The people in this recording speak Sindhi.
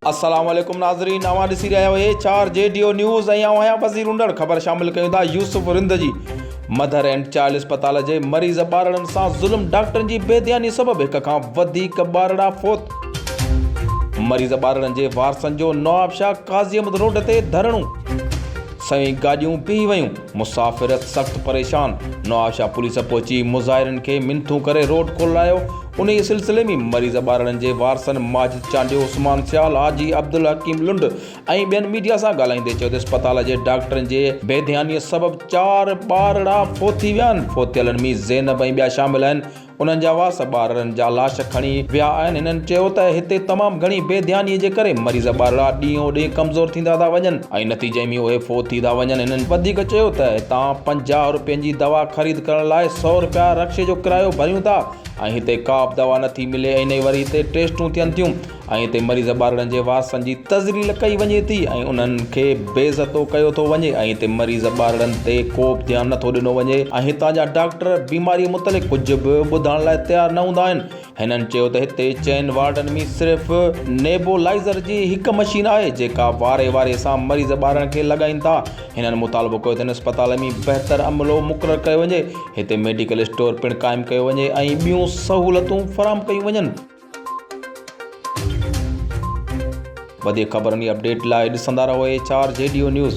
السلام عليڪم ناظرين اوهان ڏسي رهيا آهيو H R G D O news ۽ آئون آهيان وزير انڊڙ خبر شامل ڪيون ٿا يوسف رند جي مڌر اينڊ چائلڊ اسپتال جي مريض ٻارڙن سان ظلم ڊاڪٽرن جي بي ڌياني سبب هڪ کان وڌيڪ ٻارڙا فوت مريض ٻارڙن جي وارثن جو نوابشاهه قاضي احمد روڊ تي ڌرڻو سوين گاڏيون بيهي ويون مسافرت سخت پريشان، نوابشاهه پوليس پهچي مظاهرين کي منٿون ڪري روڊ کولرايو، انهيء سلسلي ۾ مريض ٻارڙن جي وارثن ماجد چانڊيو، عثمان سيال، حاجي عبدالحڪيم لنڊ ۽ ٻين ميڊيا سان ڳالهائيندي چيو ته اسپتال جي ڊاڪٽرن جي بيڌيانيء سبب چار ٻارڙا فوت ٿي ويا آهن، فوتيلن ۾ زينب ۽ ٻيا شامل آهن. انهن جا وارث ٻارڙن جا لاش کڻي ويا آهن، هنن چيو ته هتي تمام گهڻي بي ڌياني جي ڪري مريض ٻارڙا ڏينهون ڏينهن ڪمزور ٿيندا ٿا وڃن ۽ نتيجي ۾ اهي فوت ٿي ٿا وڃن، هنن وڌيڪ چيو ته هتان پنجاهه رپين جي دوا خريد ڪرڻ لاء سؤ رپيا رڪشي جو ڪرايو ڀريون ٿا ۽ هتي ڪابه دوا نٿي ملي ۽ نه ئي وري هتي ٽيسٽون ٿين ٿيون. ۽ اتي مريض ٻارڙن جي وارثن جي تذليل ڪئي وڃي ٿي ۽ انهن کي بي عزتو ڪيو ٿو وڃي ۽ اتي مريض ٻارڙن تي ڪوبه ڌيان نٿو ڏنو وڃي ۽ هتان جا ڊاڪٽر بيماري متعلق ڪجهه به ٻڌائڻ لاء تيار نه هوندا آهن هنن چيو ته هتي چئن وارڊن ۾ صرف نيبولائزر جي هڪ مشين آهي جيڪا واري واري سان مريض ٻارڙن کي لڳائين ٿا هنن مطالبو ڪيو ته هن اسپتال ۾ بهتر عملو مقرر ڪيو وڃي هتي ميڊيڪل اسٽور پڻ قائم ڪيو وڃي ۽ ٻيون سهولتون فراهم ڪيون وڃن. وڌيڪ خبرن جي اپڊيٽ لاء ڏسندا رهو H R G D O news.